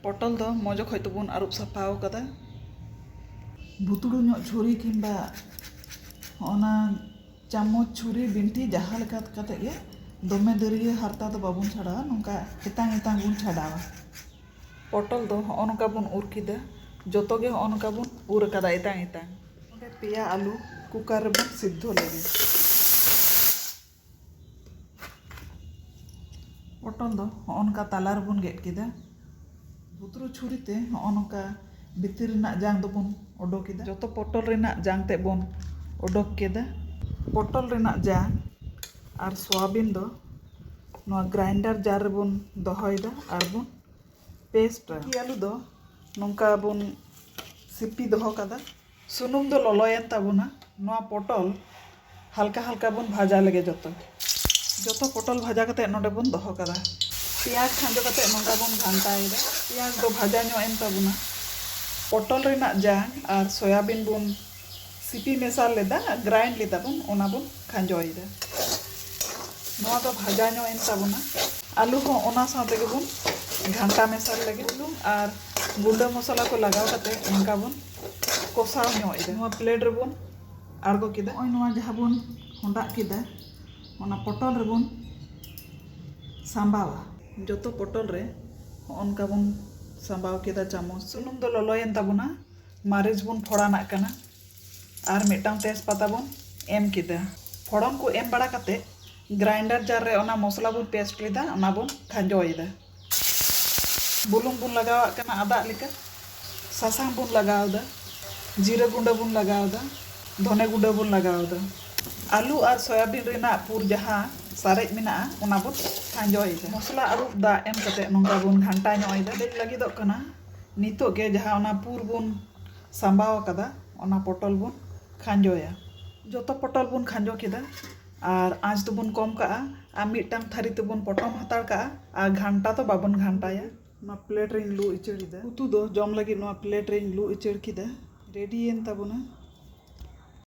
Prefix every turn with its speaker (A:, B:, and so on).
A: ᱯᱚᱴᱚᱞ ᱫᱚ ᱢᱚᱡᱽ ᱚᱠᱚᱡ ᱛᱮᱵᱚᱱ ᱟᱹᱨᱩᱵ ᱥᱟᱯᱷᱟ ᱟᱠᱟᱫᱟ ᱵᱷᱩᱛᱲᱩ ᱧᱚᱜ ᱪᱷᱩᱨᱤ ᱠᱤᱢᱵᱟ ᱚᱱᱟ ᱪᱟᱢᱚᱪ ᱪᱷᱩᱨᱤ ᱵᱤᱱᱴᱷᱤ ᱡᱟᱦᱟᱸ ᱞᱮᱠᱟ ᱠᱟᱛᱮᱫ ᱜᱮ ᱫᱚᱢᱮ ᱫᱟᱹᱨᱭᱟᱹ ᱦᱟᱨᱛᱟ ᱫᱚ ᱵᱟᱵᱚᱱ ᱪᱷᱟᱰᱟᱣᱟ ᱱᱚᱝᱠᱟ ᱮᱛᱟᱝ ᱮᱛᱟᱝ ᱵᱚᱱ ᱪᱷᱟᱰᱟᱣᱟ ᱯᱚᱴᱚᱞ ᱫᱚ ᱦᱚᱸᱜᱼᱚ ᱱᱚᱝᱠᱟ ᱵᱚᱱ ᱩᱨ ᱠᱮᱫᱟ ᱡᱚᱛᱚ ᱜᱮ ᱦᱚᱸᱜᱼᱚ ᱱᱚᱝᱠᱟ ᱵᱚᱱ ᱩᱨ ᱟᱠᱟᱫᱟ ᱮᱛᱟᱝ ᱮᱛᱟᱝ ᱚᱸᱰᱮ ᱯᱮᱭᱟ ᱟᱹᱞᱩ ᱠᱩᱠᱟᱨ ᱨᱮᱵᱚᱱ ᱥᱤᱫᱽᱫᱷᱚ ᱞᱮᱜᱮ ᱯᱚᱴᱚᱞ ᱫᱚ ᱦᱚᱸᱜᱼᱚ ᱱᱚᱝᱠᱟ ᱛᱟᱞᱟ ᱨᱮᱵᱚᱱ ᱜᱮᱫ ᱠᱮᱫᱟ ᱵᱩᱛᱨᱩ ᱪᱷᱩᱨᱤ ᱛᱮ ᱦᱚᱸᱜᱼᱚ ᱱᱚᱝᱠᱟ ᱵᱷᱤᱛᱤᱨ ᱨᱮᱱᱟᱜ ᱡᱟᱝ ᱫᱚᱵᱚᱱ ᱚᱰᱚᱠ ᱮᱫᱟ ᱡᱚᱛᱚ ᱯᱚᱴᱚᱞ ᱨᱮᱱᱟᱜ ᱡᱟᱝ ᱛᱮᱫ ᱵᱚᱱ ᱚᱰᱚᱠ ᱠᱮᱫᱟ ᱯᱚᱴᱚᱞ ᱨᱮᱱᱟᱜ ᱡᱟᱝ ᱟᱨ ᱥᱚᱣᱟᱵᱤᱱ ᱫᱚ ᱱᱚᱣᱟ ᱜᱨᱟᱭᱤᱱᱰᱟᱨ ᱡᱟᱨ ᱨᱮᱵᱚᱱ ᱫᱚᱦᱚᱭᱮᱫᱟ ᱟᱨ ᱵᱚᱱ ᱯᱮᱥᱴᱟ ᱟᱹᱞᱩ ᱫᱚ ᱱᱚᱝᱠᱟ ᱵᱚᱱ ᱥᱤᱯᱤ ᱫᱚᱦᱚ ᱠᱟᱫᱟ ᱥᱩᱱᱩᱢ ᱫᱚ ᱞᱚᱞᱚᱭᱮᱱ ᱛᱟᱵᱚᱱᱟ ᱱᱚᱣᱟ ᱯᱚᱴᱚᱞ ᱦᱟᱞᱠᱟ ᱦᱟᱞᱠᱟ ᱵᱚᱱ ᱵᱷᱟᱡᱟ ᱞᱮᱜᱮ ᱡᱚᱛᱚ ᱡᱚᱛᱚ ᱯᱚᱴᱚᱞ ᱵᱷᱟᱡᱟ ᱠᱟᱛᱮ ᱱᱚᱰᱮ ᱵᱚᱱ ᱫᱚᱦᱚ ᱠᱟᱫᱟ ᱯᱮᱸᱭᱟᱡᱽ ᱠᱷᱟᱸᱡᱚ ᱠᱟᱛᱮ ᱱᱚᱝᱠᱟ ᱵᱚᱱ ᱜᱷᱟᱱᱴᱟᱭᱮᱫᱟ ᱯᱮᱸᱭᱟᱡᱽ ᱫᱚ ᱵᱷᱟᱡᱟ ᱧᱚᱜ ᱮᱱ ᱛᱟᱵᱚᱱᱟ ᱯᱚᱴᱚᱞ ᱨᱮᱱᱟᱜ ᱡᱟᱝ ᱟᱨ ᱥᱚᱭᱟᱵᱤᱱ ᱵᱚᱱ ᱥᱤᱯᱤ ᱢᱮᱥᱟ ᱞᱮᱫᱟ ᱜᱨᱟᱭᱤᱱᱰ ᱞᱮᱫᱟ ᱵᱚᱱ ᱚᱱᱟ ᱵᱚᱱ ᱠᱷᱟᱸᱡᱚᱭᱮᱫᱟ ᱱᱚᱣᱟ ᱫᱚ ᱵᱷᱟᱡᱟ ᱧᱚᱜ ᱮᱱ ᱛᱟᱵᱚᱱᱟ ᱟᱞᱩ ᱦᱚᱸ ᱚᱱᱟ ᱥᱟᱶ ᱛᱮᱜᱮ ᱵᱚᱱ ᱜᱷᱟᱱᱴᱟ ᱢᱮᱥᱟ ᱞᱮᱜᱮ ᱵᱩᱞᱩᱝ ᱟᱨ ᱜᱩᱸᱰᱟᱹ ᱢᱚᱥᱞᱟ ᱠᱚ ᱞᱟᱜᱟᱣ ᱠᱟᱛᱮ ᱱᱚᱝᱠᱟ ᱵᱚᱱ ᱠᱚᱥᱟᱣ ᱧᱚᱜ ᱮᱫᱟ ᱱᱚᱣᱟ ᱯᱞᱮᱴ ᱨᱮᱵᱚᱱ ᱟᱬᱜᱚ ᱠᱮᱫᱟ ᱱᱚᱜᱼᱚᱭ ᱱᱚᱣᱟ ᱡᱟᱦᱟᱸ ᱵᱚᱱ ᱦᱚᱸᱰᱟᱜ ᱠᱮᱫᱟ ᱚᱱᱟ ᱯᱚᱴᱚᱞ ᱨᱮᱵᱚᱱ ᱥᱟᱢᱵᱟᱣᱟ ᱡᱚᱛᱚ ᱯᱚᱴᱚᱞ ᱨᱮ ᱚᱱᱠᱟ ᱵᱚᱱ ᱥᱟᱢᱵᱟᱣ ᱠᱮᱫᱟ ᱪᱟᱢᱚᱪ ᱥᱩᱱᱩᱢ ᱫᱚ ᱞᱚᱞᱚᱭᱮᱱ ᱛᱟᱵᱚᱱᱟ ᱢᱟᱹᱨᱤᱪ ᱵᱚᱱ ᱯᱷᱚᱲᱟᱱᱟᱜ ᱠᱟᱱᱟ ᱟᱨ ᱢᱤᱫᱴᱟᱝ ᱛᱮᱡᱽᱯᱟᱛᱟ ᱵᱚᱱ ᱮᱢ ᱠᱮᱫᱟ ᱯᱷᱚᱲᱚᱱ ᱠᱚ ᱮᱢ ᱵᱟᱲᱟ ᱠᱟᱛᱮ ᱜᱨᱟᱭᱤᱱᱰᱟᱨ ᱡᱟᱨ ᱨᱮ ᱚᱱᱟ ᱢᱚᱥᱞᱟ ᱵᱚᱱ ᱯᱮᱥᱴ ᱞᱮᱫᱟ ᱚᱱᱟ ᱵᱚᱱ ᱠᱷᱟᱸᱡᱚᱭᱮᱫᱟ ᱵᱩᱞᱩᱝ ᱵᱚᱱ ᱞᱟᱜᱟᱣᱟᱜ ᱠᱟᱱᱟ ᱟᱫᱟᱜ ᱞᱮᱠᱟ ᱥᱟᱥᱟᱝ ᱵᱚᱱ ᱞᱟᱜᱟᱣ ᱮᱫᱟ ᱡᱤᱨᱟᱹ ᱜᱩᱸᱰᱟᱹ ᱵᱚᱱ ᱞᱟᱜᱟᱣ ᱮᱫᱟ ᱫᱷᱚᱱᱮ ᱜᱩᱸᱰᱟᱹ ᱵᱚᱱ ᱞᱟᱜᱟᱣ ᱮᱫᱟ ᱟᱹᱞᱩ ᱟᱨ ᱥᱚᱭᱟᱵᱤᱱ ᱨᱮᱱᱟᱜ ᱯᱩᱨ ᱡᱟᱦᱟᱸ ᱥᱟᱨᱮᱡ ᱢᱮᱱᱟᱜᱼᱟ ᱚᱱᱟ ᱵᱚᱱ ᱠᱷᱟᱸᱡᱚᱭ ᱮᱫᱟ ᱢᱚᱥᱞᱟ ᱟᱹᱨᱩᱵ ᱫᱟᱜ ᱮᱢ ᱠᱟᱛᱮ ᱱᱚᱝᱠᱟ ᱵᱚᱱ ᱜᱷᱟᱱᱴᱟ ᱧᱚᱜ ᱮᱫᱟ ᱦᱮᱰᱮᱡ ᱞᱟᱹᱜᱤᱫᱚᱜ ᱠᱟᱱᱟ ᱱᱤᱛᱚᱜ ᱜᱮ ᱡᱟᱦᱟᱸ ᱚᱱᱟ ᱯᱩᱨ ᱵᱚᱱ ᱥᱟᱸᱵᱟᱣ ᱟᱠᱟᱫᱟ ᱚᱱᱟ ᱯᱚᱴᱚᱞ ᱵᱚᱱ ᱠᱷᱟᱸᱡᱚᱭᱟ ᱡᱚᱛᱚ ᱯᱚᱴᱚᱞ ᱵᱚᱱ ᱠᱷᱟᱸᱡᱚ ᱠᱮᱫᱟ ᱟᱨ ᱟᱸᱪ ᱫᱚᱵᱚᱱ ᱠᱚᱢ ᱠᱟᱜᱼᱟ ᱟᱨ ᱢᱤᱫᱴᱟᱝ ᱛᱷᱟᱹᱨᱤ ᱛᱮᱵᱚᱱ ᱯᱚᱴᱚᱢ ᱦᱟᱛᱟᱲ ᱠᱟᱜᱼᱟ ᱟᱨ ᱜᱷᱟᱱᱴᱟ ᱫᱚ ᱵᱟᱵᱚᱱ ᱜᱷᱟᱱᱴᱟᱭᱟ᱾ ᱱᱚᱣᱟ ᱯᱞᱮᱴ ᱨᱮᱧ ᱞᱩ ᱩᱪᱟᱹᱲ ᱮᱫᱟ᱾ ᱩᱛᱩ ᱫᱚ ᱡᱚᱢ ᱞᱟᱹᱜᱤᱫ ᱱᱚᱣᱟ ᱯᱞᱮᱴ ᱨᱮᱧ ᱞᱩ ᱩᱪᱟᱹᱲ ᱠᱮᱫᱟ᱾ ᱨᱮᱰᱤᱭᱮᱱ ᱛᱟᱵᱚᱱᱟ᱾